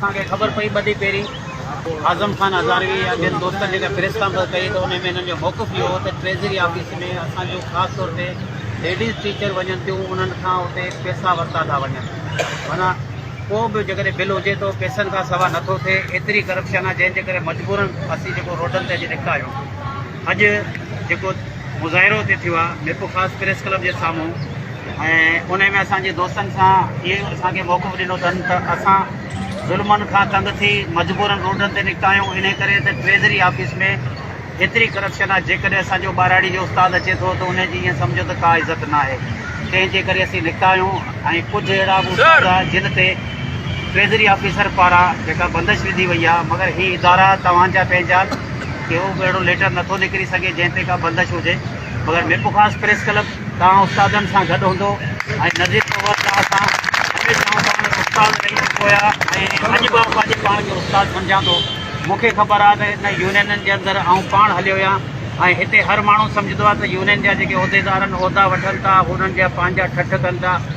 اسان کي خبر پئي ٻه ڏينهن پهرين اعظم خان هزاروي يا ٻين دوستن جيڪا پريس ڪانفرنس ڪئي ته ان ۾ هنن جو موقف اهو هو ته ٽريزري آفيس ۾ اسان جون خاص طور تي ليڊيز ٽيچر وڃن ٿيون انهن کان اتي پيسا ورتا ٿا وڃن معنيٰ ڪو به جيڪڏهن بل هجي ٿو پيسن کان سوا نٿو ٿئي ايتري ڪرپشن آهي جنهن جي ڪري مجبورن اسين جيڪو روڊن تي اچي نڪتا آهيون. اڄ جيڪو مظاهرو اتي ٿيو آهي ميرپور خاص پريس ڪلب جي سامهون ۽ ان ۾ اسان جي دوستن سان اهي اسان کي موقعو ڏنو اٿن ته اسان ظلمن کان تنگ ٿي مجبورن روڊن تي نڪتا آهيون ان ڪري ته ٽريزري آفيس ۾ ايتري ڪرپشن آهي جيڪڏهن اسان جو ٻاراڙي جو استاد اچي ٿو ته ان جي ائين سمجهو ته ڪا عزت ناهي تنهن جي ڪري اسين نڪتا آهيون ۽ ڪجهه اهڙا به استاد جن تي ٽريزري آفيسر پاران جيڪا بندش وڌي وئي آهي مگر هي ادارا توهان جا پنهنجا آهن ڪهو به اهڙو ليٽر نٿو نڪري سگهي جنهن تي ڪا بندش هجي مگر ميپو خاص پريس ڪلب توهان استادن سان گڏ هوندو ۽ نظير سرور توهان سان هميشه آئون توهان جو استاد رهي چڪو آهيان ۽ اڄ به آئون پنهنجي پاڻ کي استاد سمجهان ٿو مون کي خبر آهي ته هن يونينن جي اندر آئون پاڻ هليو آهيان ۽ هتي هر ماڻهو سمجهندو آهي ته يونين جا جيڪي عهديدار آهن عهدا وٺن ٿا هو انهن جا پنهنجا ٺٺ ڪن ٿا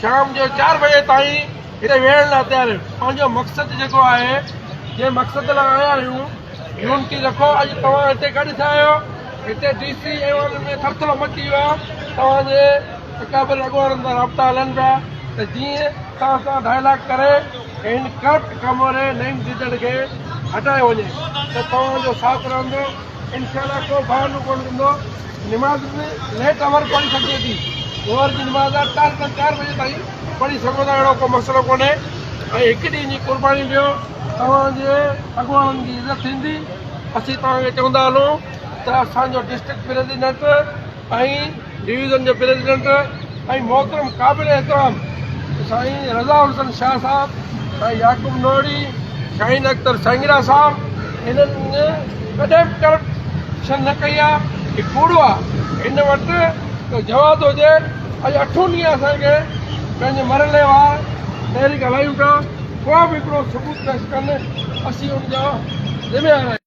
شام جو چار بجي تائين هتي ويهڻ لاء تيار آهيون پنهنجو مقصد جيڪو آهي جنهن مقصد لاء آيا آهيون يونٽي رکو اڄ توهان هتي ڪڏهن ٿيا آهيو هتي ڊي سي ايوان ۾ ٿر ٿر مچي ويو آهي توهان جي اڪابر اڳواڻن سان رابطا هلن پيا ته جيئن توهان سان ڊائلاگ ڪري هن ڪرپٽ ڪاموري نعيم جيجڙ کي هٽايو وڃي ته توهان جو ساٿ رهندو انشاء الله ڪو بهانو ڪونه ڏيندو نماز به ليٽ آور پڙهي سگهجي ٿي ظهر جي نماز آهي چار کان چار بجي تائين پڙهي سگهو ٿا اهڙو ڪو مسئلو ڪونهي ۽ هڪ ڏينهن جي قرباني ڏيو توهان جي اڳواڻن جي عزت ٿيندي اسين توهان کي چوندا هلون ته اسان جو ڊسٽرڪٽ پريزيڊنٽ ۽ ڊويزن جي پريزيڊنٽ ۽ محترم قابل احترام سائين رضا حسن شاهه صاحب، سائين يعقوب نوڙي، شاهين اختر سانگيرا صاحب هنن ڪڏهن به ڪرپشن نه ڪئي آ هي ڪوڙو آ هن وٽ ته جواز هجي اڄ اٺون ڏينهن اسان کي پنهنجي مرحلي وار تحريڪ هلايون پيا ڪو به هڪڙو ثبوت پيش ڪن اسين ان جا ذميوار آهيون.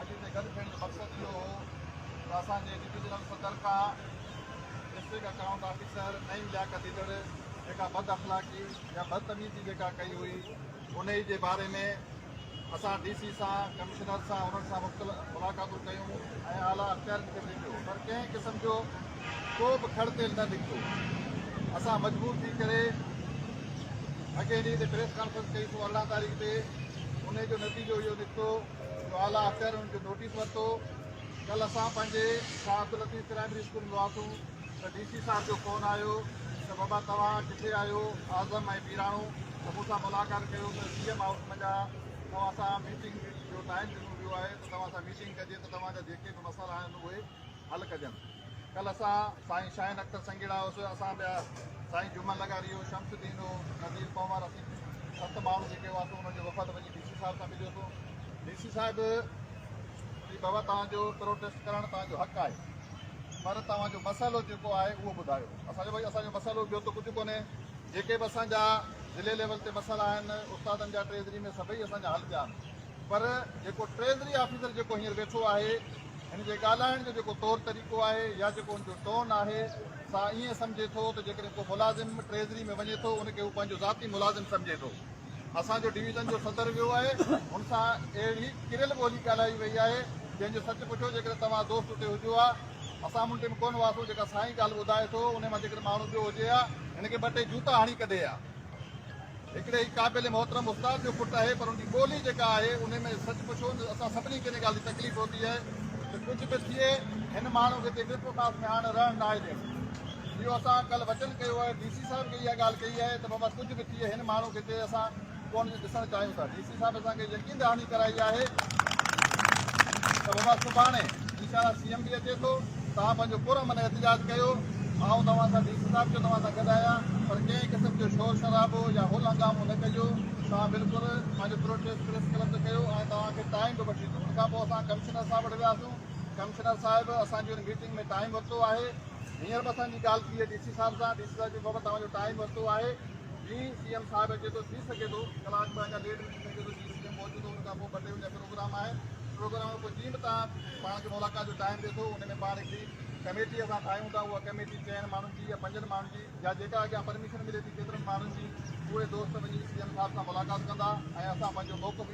اڄ هتي گڏ ٿيڻ جو مقصد اهو هو ته اسان جي ڊويزنل صدر کان ڊسٽرڪٽ اڪائونٽ آفيسر نئين لياقت ڏيندڙ جيڪا بد اخلاقي يا بدتميزي جيڪا ڪئي هئي انهي جي باري ۾ اسان ڊي سي سان ڪمشنر سان انهن سان مختلف ملاقاتون ڪيون ۽ اعليٰ اختيارين کي ڀيٽيو پر ڪنهن قسم جو ڪو به کڙ تيل نه نڪتو اسان مجبور ٿي ڪري اڳي ڏينهن تي پريس ڪانفرنس ڪئي سو ارڙهن تاريخ تي انهي جو نتيجو اهو نڪتو جو اعليٰ اختيارين ان جو نوٽيس ورتو. ڪلهه اسان پنهنجي شاهه عبداللطيف پرائمري اسڪول ۾ هئاسون ته ڊي سي صاحب جو فون آيو ته بابا توهان ڪٿي آهيو؟ اعظم ۽ ميراڻو ته مون سان ملاقات ڪيو ته سي ايم هائوس منجهان توهان سان ميٽنگ جو ٽائيم ڏنو ويو آهي ته توهان سان ميٽنگ ڪجي ته توهان جا جيڪي به مسئلا آهن اهي حل ڪجن. ڪلهه اسان سائين شاهين اختر سنگيڙا هوس اسان ٻيا سائين جمعل لغاري هو شمس الدين هو نذير پنهور اسين ست ماڻهو جيڪي هئاسون انهن جو وفد وڃي ڊي سي صاحب سان مليو ٿو ڊي سي صاحب جي بابا توهان جو پروٽيسٽ ڪرڻ توهان جو حق آهي پر توهان جو مسئلو جيڪو آهي اهو ٻڌايو اسان جو ڀائی اسان جو مسئلو ٻيو ته ڪجهه ڪونهي جيڪي به اسان جا ضلعي ليول تي مسئلا آهن استادن جا ٽريزري ۾ سڀئي اسان جا حل ٿيا آهن پر جيڪو ٽريزري آفيسر جيڪو هينئر ويٺو آهي هن جي ڳالهائڻ جو جيڪو طور طريقو آهي يا جيڪو هن جو ٽون آهي سا ائين سمجهي ٿو ته جيڪڏهن ڪو ملازم ٽريزري ۾ وڃي ٿو ان کي هو پنهنجو ذاتي ملازم سمجهي ٿو اسان جو ڊويزن جو صدر ويو آهي هن سان اهڙي ڪريل ٻولي ڳالهائي وئي آهي جنهن جو سچ پڇو جيڪڏهن توهان دوست اتي هجو ها اسان منٽي ۾ ڪون هئاسون جيڪا سائين ڳالهه ٻڌائي ٿو ان مان جيڪڏهن ماڻهو ٻيو هجي ها هن کي ٻه ٽي جوتا هڻي ڪڍي ها هڪڙي هي قابل محترم استاد جو پٽ آهي پر ان جي ٻولي جيڪا آهي ان ۾ سچ پڇو ته اسان سڀني کي ان ڳالهه جي تڪليف هوندي آهي ته ڪجهه به ٿئي هن ماڻهو کي هتي ميرپور خاص ۾ هاڻ رهڻ ناهي ڏيڻو اهو اسان ڪلهه وچن ڪيو آهي ڊي سي صاحب کي اها ڳالهه ڪئي آهي ته بابا ڪجهه به ٿئي هن ماڻهو کي هتي اسان ڪونه ڏسڻ چاهيون ٿا صاحب اسان کي يقين دهاني ڪرائي آهي ته بابا سڀاڻي انشاء الله سي ايم به اچي ٿو توهان پنهنجو پر امن احتجاج ڪيو آئون توهان سان ڊي سي صاحب جو توهان سان گڏ آهيان پر ڪنهن قسم جو شور شرابو يا هل هنگامو نه ڪجو توهان بلڪل پنهنجو پروٽيسٽ پريس ڪلب تي ڪيو ۽ توهان کي ٽائيم به وٺي ڏنو ان کان پوء اسان ڪمشنر صاحب وٽ وياسون ڪمشنر صاحب اسان جي ان ميٽنگ ۾ ٽائيم ورتو آهي هينئر به اسان جي ڳالهه ٿي ڊي سي صاحب سان ڊي سي صاحب چيو بابا توهان جو ٽائيم ورتو آهي جي سي ايم صاحب اچي ٿو ٿي سگهي ٿو ڪلاڪ ٻه اڃا ليٽ به ٿي سگهي ٿو جي سي ايم پهچي ٿو ان کان پوء ٻه ٽي اڃا پروگرام آهي پروگرام کان پوء جيئن به تان پاڻ کي ملاقات جو ٽائيم ڏي ٿو ان ۾ پاڻ هڪڙي ڪميٽي اسان ٺاهيون ٿا اها ڪميٽي چئن ماڻهن جي يا پنجن ماڻهن جي يا جيڪا اڳيان پرميشن ملي ٿي ڪيترن ماڻهن جي اهي دوست وڃي سي ايم صاحب سان ملاقات ڪندا ۽ اسان پنهنجو موقف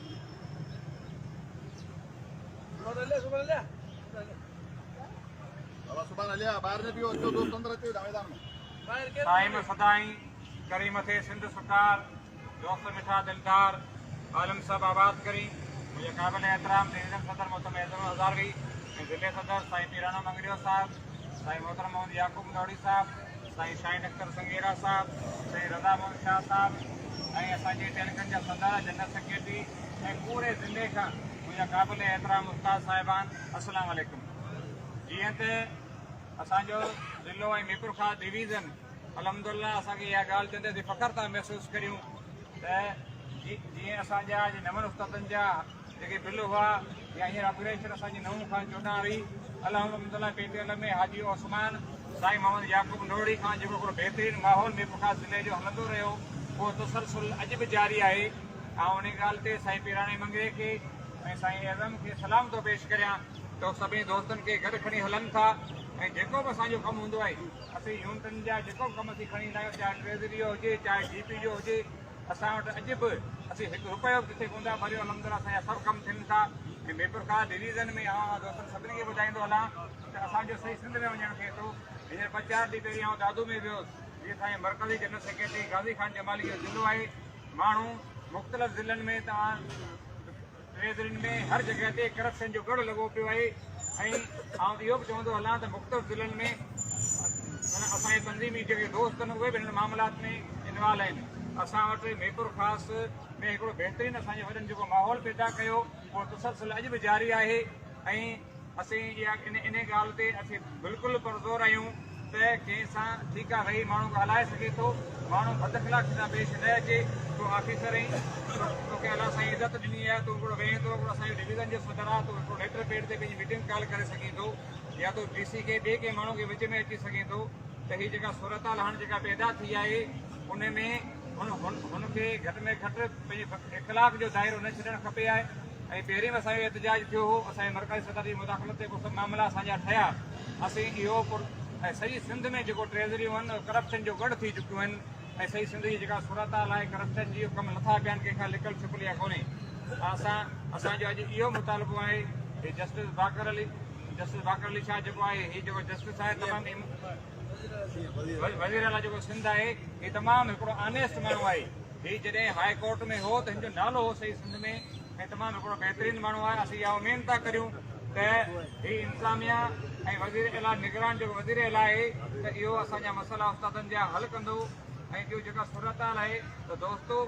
دائم سدائين ڪرين مٿي سنڌ سرڪار دوست مٺا دلدار عالم صاحب آباد ڪرين منهنجي قابل احترام ڊويزن صدر محترم اعظم هزاروي ۽ ضلعي صدر سائين پيراڻو مڱريو صاحب سائين محترم محمد يعقوب متواڙي صاحب، سائين شاهين اختر سنگيرا صاحب، سائين رضا محمد شاهه صاحب ۽ اسان جي ٽيليڪن جا سدارا جنرل سيڪريٽري ۽ پوري ضلعي کان منهنجا قابل احترام استاد صاحبان السلام عليڪم جيئن ته اسان جو ضلعو ۽ ميرپورخاص ڊويزن الحمدلله اسان کي اها ڳالهه چوندي اسين فخر ٿا محسوس ڪريون ته جيئن اسان جا نون استادن جا جيڪي بل هئا يا هينئر آپريشن اسان جي نو کان چوڏهن ري الحمد لله P T L ۾ Haji Usman سائين محمد يعقوب نوڙي کان جيڪو هڪڙو بهترين ماحول مير پورخاص ضلعي جو هلندو رهيو اهو تسلسل اڄ به جاري آهي آئون انهي ڳالهه تي سائين پيراڻي منگري کي ۽ سائين اعظم کي سلام ٿو پيش ڪريان ته هو سڀني دوستن کي گڏ کڻي هلن ٿا ۽ جيڪو به اسان جو ڪم هوندو آهي اسين يونٽن جا جيڪو به ڪم اسين کڻي ايندا آهيون چاهي ٽريزري جو هجي چاهي جي پي جو هجي اسان وٽ اڄ به اسين هڪ رپيو به ڪٿي ڪون ٿا ڀريون الحمدلله اسان جا سڀ ڪم ٿين ٿا ۽ ٻي پرڪار ڊويزن ۾ آئون دوستن سڀني کي ٻڌائيندو هلان ته اسان جو سائين سنڌ ۾ وڃڻ ٿئي ٿو هينئر ٻه چار ڏينهن پهرين آئون دادو ۾ ويو جي اسان مرڪزي جنرل سيڪريٽري غازي خان جمالي جو ضلعو آهي ماڻهو مختلف ضلعن ۾ توهان ميدرين ۾ هر جڳهه تي ڪرپشن جو ڳڙهه لڳو پيو آهي ۽ آئون اهو به چوندو هلان ته مختلف ضلعن ۾ اسان جي تنظيمي جيڪي دوست آهن اهي به هن معاملات ۾ انوالو آهن اسان وٽ ميپور خاص ۾ هڪڙو بهترين اسان جي وڏن جيڪو ماحول پيدا ڪيو اهو تسلسل اڄ به جاري آهي ۽ اسين انهي ڳالهه تي اسين بلڪل پرزور آهيون ته جنهن سان ٺيڪ آهي ويهي ماڻهو ڳالهائي سگهي ٿو، ماڻهو بداخلاقي سان پيش نه اچي، تون آفيسر آهين، توکي الله سائين عزت ڏني آهي، تون هڪڙو ويهين ٿو، هڪڙو اسان جي ڊويزن جو صدر آهي، تون هڪڙو ليٽر پيڊ تي پنهنجي ميٽنگ ڪال ڪري سگهين ٿو يا تون ڊي سي کي ٻئي ڪنهن ماڻهو کي وچ ۾ اچي سگهين ٿو ته هي جيڪا صورتحال هاڻ جيڪا پيدا ٿي آهي ان ۾ هن کي گهٽ ۾ گهٽ پنهنجي اخلاق جو دائرو نه ڇڏڻ کپي ها. ۽ پهرين به اسان جو احتجاج ٿيو هو، اسان جي مرڪزي صدر جي مداخلت تي ڪو سڀ معاملا اسان جا ٺهيا، اسين اهو پر ۽ سڄي سنڌ ۾ جيڪو ٽريزريون هن اهي ڪرپشن جو ڳڙهه ٿي چڪيون هن ۽ سڄي سنڌ جي جيڪا صورت حال آهي ڪرپشن جي اهي ڪم لٿا پيا آهن ڪنهن کان لڪل ڇپل يا ڪونهي اسان اسان جو اڄ اهو مطالبو آهي هي جسٽس باقر علي جسٽس باقر علي شاهه جيڪو آهي هي جيڪو جسٽس آهي تمام وزيراعليٰ جيڪو سنڌ آهي هي تمام هڪڙو آنيسٽ ماڻهو آهي هي جڏهن هاء ڪورٽ ۾ هو ته هن جو نالو هو سڄي سنڌ ۾ ۽ تمام هڪڙو بهترين ماڻهو آهي اسين اها اميد ٿا ڪريون ته هي انتظاميا ۽ وزير اعليٰ نگران جيڪو وزير اعليٰ آهي ته اهو اسان جا مسئلا استادن جا حل ڪندو ۽ ٻيو جيڪا صورتحال آهي ته دوستو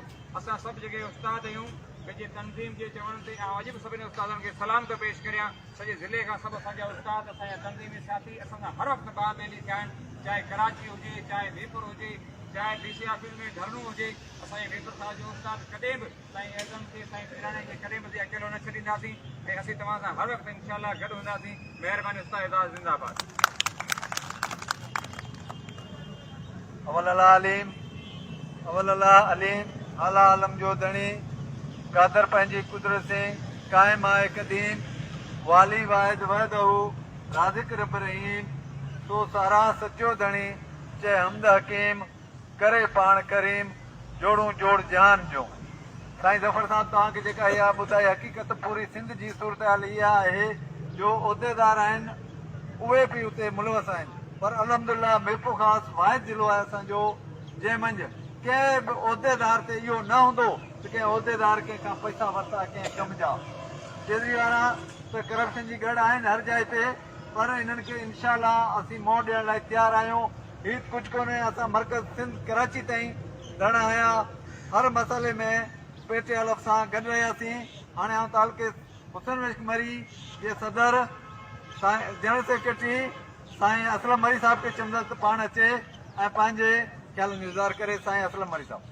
اسان سڀ جيڪي استاد آهيون پنهنجي تنظيم جي چوڻ تي آئون اڄ به سڀني استادن کي سلام ٿو پيش ڪريان سڄي ضلعي کان سڀ اسان جا استاد اسان جا تنظيمي ساٿي اسان سان هر وقت ٻانهه ٻيلي ٿيا آهن چاهي ڪراچي هجي چاهي ميرپور هجي چاهي ڊي سي آفيس ۾ ڌرڻو هجي اسان جي ميمبر صاحب جو استاد ڪڏهن به سائين اعظم کي سائين پيراڻي کي ڪڏهن به اڪيلو نه ڇڏينداسين ۽ اسين توهان سان هر وقت انشاء الله گڏ هونداسين مهرباني استاد اعزاز زنده آباد اول الله عليم اول الله عليم اعليٰ عالم جو ڌڻي قادر پنهنجي قدرت سين قائم آهي قديم والي واحد وحده رازق رب رحيم سو ساراهه سچو ڌڻي چئه حمد حڪيم ڪري پاڻ ڪريم جوڙون جوڙ جهان جون. سائين ظفر صاحب توهان کي جيڪا اها ٻڌائي حقيقت پوري سنڌ جي صورتحال اها آهي جو عهديدار آهن اهي به اتي ملوث آهن پر الحمدالله ميرپورخاص واحد ضلعو آهي اسان جو جنهن منجھ ڪنهن به عهديدار تي اهو نه هوندو ته ڪنهن عهديدار ڪنهن کان پئسا ورتا ڪنهن ڪم جا ڪيجريوارا ته ڪرپشن جي ڳڙ آهن هر جاء تي پر انهن کي انشاء الله اسين منهن ڏيڻ لاء تيار آهيون هيت ڪجهه ڪونهي اسان مرڪز سنڌ ڪراچي تائين ڌرڻا هنيا هر مسئلي ۾ پيٽ حلف سان گڏ رهياسين هاڻي آئون تعلقي حسين مشڪ مري جي صدر سائين جنرل سيڪريٽري سائين اسلم مري صاحب کي چوندس ته پاڻ اچي ۽ پنهنجي خيالن جو اظهار ڪري سائين اسلم مري صاحب